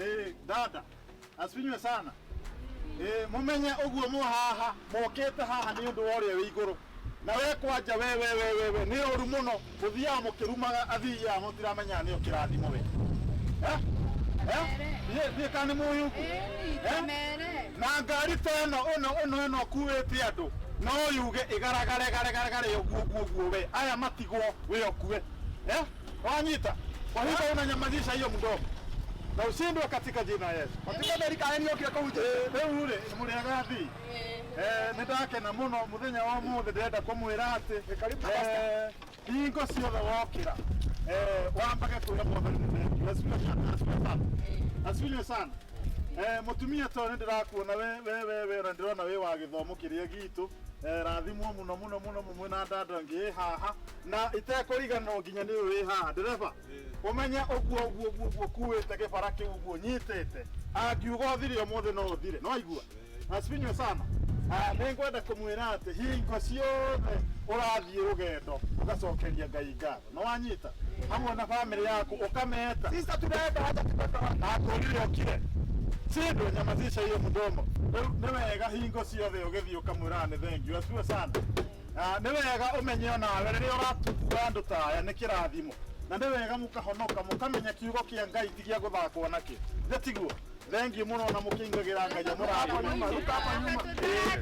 Eh, dada asifinywe sana Eh, mumenye uguo mu haha mokite haha ni undu woria wi iguru na we kwanja we we we we we ni uru muno muthiaga mukirumaga athiaga mutiramenya ni ukirathimo we eh eh ye ni kani muyu Mere. na ngari ta ĩno ĩno ĩno ĩno kuĩte andũ no yuge ĩgaragare garagare ũguo ũguo ũguo we aya matigwo we ũkue eh Wanyita, kwa hivyo unanyamazisha hiyo mdomo na ushindwe katika jina la Yesu. Katika Amerika yenu yote kwa uje. Rĩu rĩ mũrĩaga thi Eh, nĩ ndakena mũno mũthenya wa mũthĩ ndĩrenda kũmwĩra atĩ eh, hingo ciothe wokĩra eh, wambage kwĩra mũthĩ nĩ asifiwe sana, asifiwe sana. asifiwe sana Eh, mũtumia tondũ nĩ ndĩrakuona we we we we na ndĩrona wĩ wa gĩthomo kĩrĩa gitũ Eh, rathimwo mũno mũno mũno mũmwe na ndanda ngĩ haha na itekũriganĩrwo nginya nĩ ũyũ wĩ haha ndereba ũmenye ũguo ũguo ũguo ũguo kuĩte gĩbara kĩu ũguo nyitĩte angiuga ũthire ũmũthĩ no ũthire no aigua asifinywe sana Ah, nĩ ngwenda kũmwĩra atĩ hingo ciothe ũrathiĩ rũgendo ũgacokeria ngai ngatho no wanyita hamwe na bamĩrĩ yaku ũkameta sisa tunaenda hata tutatoa akũrire ũkire sindwe nyamazisha hiyo mdomo Rĩu nĩ wega hingo ciothe ũgĩthiĩ ũkamwĩraga nĩ thengiũ asifiwe sana Ah, nĩ wega ũmenye o nawe rĩrĩa ũratumbura andũ ta aya nĩ kĩrathimo na nĩ wega mũkahonoka mũkamenya kiugo kĩa ngai ti gĩa gũthakwo nakĩ nĩ tiguo thengiũ mũno na mũkĩingagĩra ngai amũrathima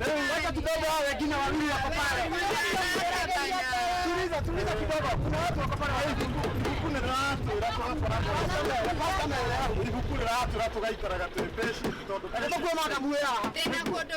rĩu wacha kidogo hao wengine wawili wako pale tuliza tuliza kidogo kuna watu wako pale wawili ibuku nĩ rĩratwĩra tũgakoragwo ibuku rĩratwĩra tũgaikaraga twĩ mbeci tondũ Nĩ tũkuona ndamu ĩyo haha. Ndĩna kũndũ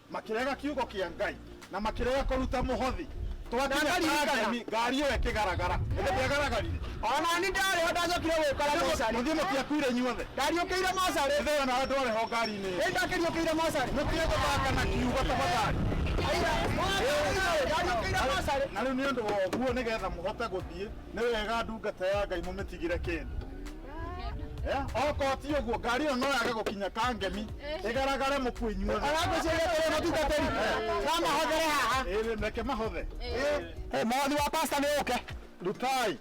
makĩrega kiugo kĩa ngai na makĩrega kũruta mũhothi twakinya Ndakarigana. kangemi ngari ĩyo ĩkĩgaragara ĩndĩ ndĩagaragarire onani ndarĩ ho ndacokire gũkora mocarĩ mũthiĩ mũtiakuire inyuothe ndariũkĩire mocarĩ ĩthĩo na andũ arĩ ho ngari-inĩ ĩyo. ĩndĩ ndakĩriũkĩire mocarĩ mũtige gũthaka na kiugo tafadhali aira mocarĩ ndariũkĩire mocarĩ na rĩu nĩ ũndũ wa ũguo nĩgetha mũhote gũthiĩ nĩ wega ndungata ya ngai mũmĩtigĩre kĩndũ Eh, okorwo ti ũguo ngari ĩyo no yage gũkinya kangemi ĩgaragare mũkuo inyuothe Arakwĩciria atĩrĩ, mũtungatĩri, no mahothere haha. Ĩĩ, reke mahothe Eh, mwathi wa pasta nĩ ũke rutai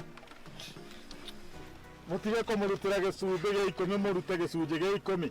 mũtige kũmũrutĩra gĩcumbĩ gĩa ikũmi mũrute gĩcunjĩ gĩa ikũmi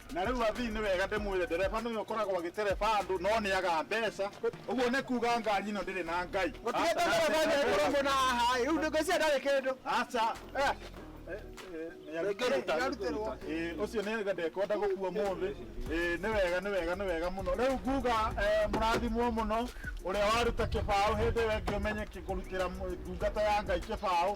Na rĩu athii nĩ wega ndĩmwĩre ndereba nĩwe ũkoragwo agĩtereba andũ no nĩaga mbeca. Ũguo nĩ kuuga ngari ĩno ndĩrĩ na Ngai. Gũtigĩte ndereba nĩekũrũngwo na haha ĩ. Rĩu ngwĩciria ndarĩ kĩndũ. Aca. Nĩarutĩrwo. Ĩĩ ũcio nĩ auga ndekwenda gũkua ũmũthĩ. Ĩĩ nĩ wega nĩ wega nĩ wega mũno. Rĩu nguuga mũrathimwo mũno ũrĩa waruta kĩbaũ hĩndĩ ĩyo ĩngĩ ũmenye kũrutĩra ndungata ya Ngai kĩbaũ.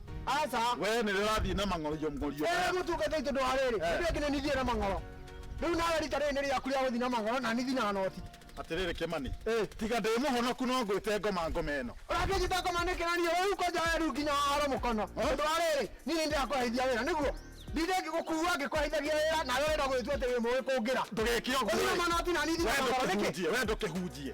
Aca. Wee nĩ ũrathiĩ na mang'orio mng'orio. Eh, mũtungata itũ ndwarĩrĩ. Eh. Nĩ nginya nithiĩ na mang'oro. Rĩu nawe rita rĩrĩ nĩ rĩaku rĩa gũthiĩ na mang'oro na nithi na noti. Atĩrĩrĩ Kĩmani. Eh. Tiga ndĩ mũhonoku no ngwĩte ngoma ngoma ĩno. Ũrakĩnjĩta ngoma nĩkĩ na niĩ rĩu kwanja weru nginya haro mũkono. Eh. Ndwarĩrĩ, niĩ nĩ ndĩrakũheithia wĩra nĩguo. Ndinde ngĩgũkua ngĩkũheithagia wĩra nawe wenda gũgĩtua atĩ wĩ mũĩ kũngĩra. Ndũgeke ũguo. Ũthiĩ na manoti na nithi na mang'oro nĩkĩ? Wee ndũkĩhunjie.